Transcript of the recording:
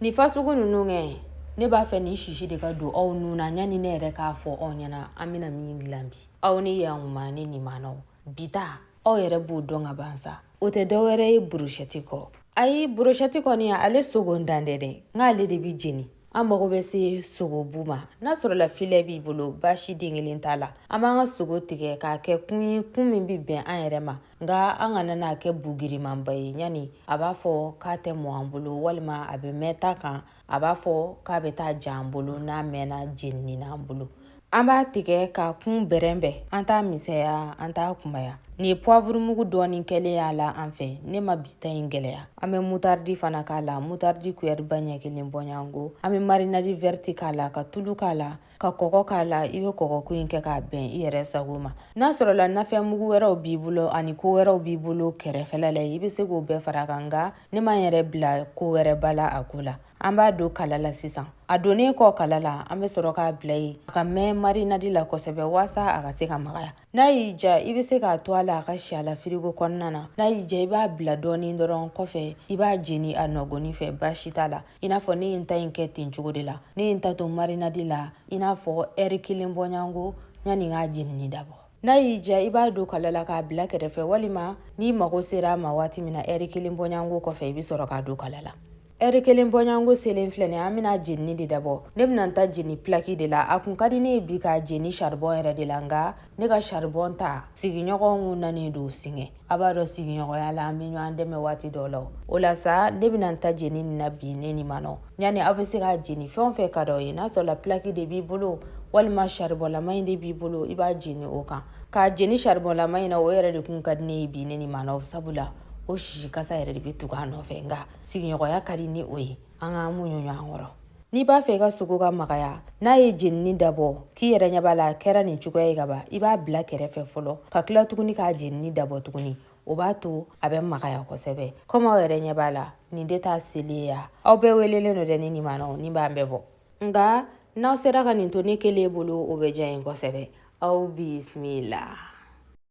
nin fasugu ninnu kɛ ne b'a fɛ nin sisi de ka don aw nu na yanni ne yɛrɛ k'a fɔ aw ɲɛna an bɛna min dilan bi aw ni yankuma ne nimanaw bi ta aw yɛrɛ b'o dɔn ka ban sa o tɛ dɔ wɛrɛ ye burushɛti kɔ ayi burushɛti kɔni ale sogo dan tɛ dɛ nk'ale de bɛ jeni an mago bɛ se sogobu ma n'a sɔrɔla filɛ b'i bolo baasi den kelen t'a la an b'an ka sogo tigɛ k'a kɛ kun ye kun min bɛ bɛn an yɛrɛ ma nka an kana n'a kɛ bugirimanba ye yanni a b'a fɔ k'a tɛ mɔ an bolo walima a bɛ mɛn ta kan a b'a fɔ k'a bɛ taa ja an bolo n'a mɛnna jenini n'an bolo an b'a tigɛ k'a kun bɛrɛbɛn an t'a misɛnya an t'a kunbaya nin ye puwavurumugu dɔɔnin kɛlen y'a la an fɛ ne ma bi ta in gɛlɛya an bɛ mutaridi fana k'a la mutaridi kuyɛriba ɲɛ kelen bɔɲɔgɔnko an bɛ marinadi vɛriti k'a la ka tulu k'a la ka kɔgɔ k'a la i bɛ kɔgɔko in kɛ k'a bɛn i yɛrɛ sago ma n'a sɔrɔla nafɛn mugu wɛrɛw b'i bolo ani ko wɛrɛw b'i bolo kɛrɛfɛla la i bɛ se k'o bɛɛ fara kan nka ne m'an yɛrɛ bila ko wɛrɛ ba la a ko la an b'a don kala la sisan a donnen kɔ kala la an bɛ sɔrɔ k'a bila yen a ka mɛn marinadi la kosɛbɛ waasa a ka se ka magaya n'a y'i diya i bɛ se k'a to a la a ka si a la firigo kɔnɔna na n'a y'i diya i b'a bila dɔɔnin dɔrɔn kɔfɛ i b'a jeni a nɔgɔni fɛ baasi t'a la i n'a fɔ ne ye n ta in kɛ ten cogo de la ne ye n ta to marinadi la i n'a fɔ ɛri kelen bɔɲɔgɔnko yanni k'a jenini dabɔ n'a y'i diya i b'a don kala la k'a bila kɛrɛfɛ walima n'i mago sera a ma waati min na ɛri kelen bɔɲɔgɔnko kɔfɛ i bɛ sɔrɔ k'a don kala la ɛri kelen bɔɲɔgɔnko selen filɛ nin an bɛna jenini de dabɔ ne bɛna n ta jeni pilaki de la a kun ka di ne ye bi k'a jeni saribɔn yɛrɛ de la nka ne ka saribɔn ta sigiɲɔgɔnw nalen don singa a b'a dɔn sigiɲɔgɔnya la an bɛ ɲɔgɔn dɛmɛ waati dɔw la o la sa ne bɛna n ta jeni nin na bi ne nimanɔ yanni aw bɛ se k'a jeni fɛn o fɛn ka d'aw ye n'a sɔrɔla pilaki de b'i bolo walima saribɔnlama in de b'i bolo i b'a jeni o kan k'a jeni saribɔnlama in na o yɛrɛ de kun ka di ne ye bi ne nimanɔ sabula o sisi kasa yɛrɛ de bɛ tugu a nɔfɛ nka sigiɲɔgɔnya ka di ni o ye an k'an muɲu ɲɔgɔn kɔrɔ n'i b'a fɛ i ka sogo ka magaya n'a ye jenini dabɔ k'i yɛrɛ ɲɛ b'a la kɛra nin cogoya ye ka ban i b'a bila kɛrɛfɛ fɔlɔ ka tila tuguni k'a jenini dabɔ tuguni o b'a to a bɛ magaya kosɛbɛ komi aw yɛrɛ ɲɛ b'a la nin de t'a selen ye ya aw bɛɛ welelen don dɛ ne nimana nin b'an bɛɛ bɔ nka n'aw sera ka nin to ne kelen bolo o bɛ diya n ye kosɛbɛ aw bisimila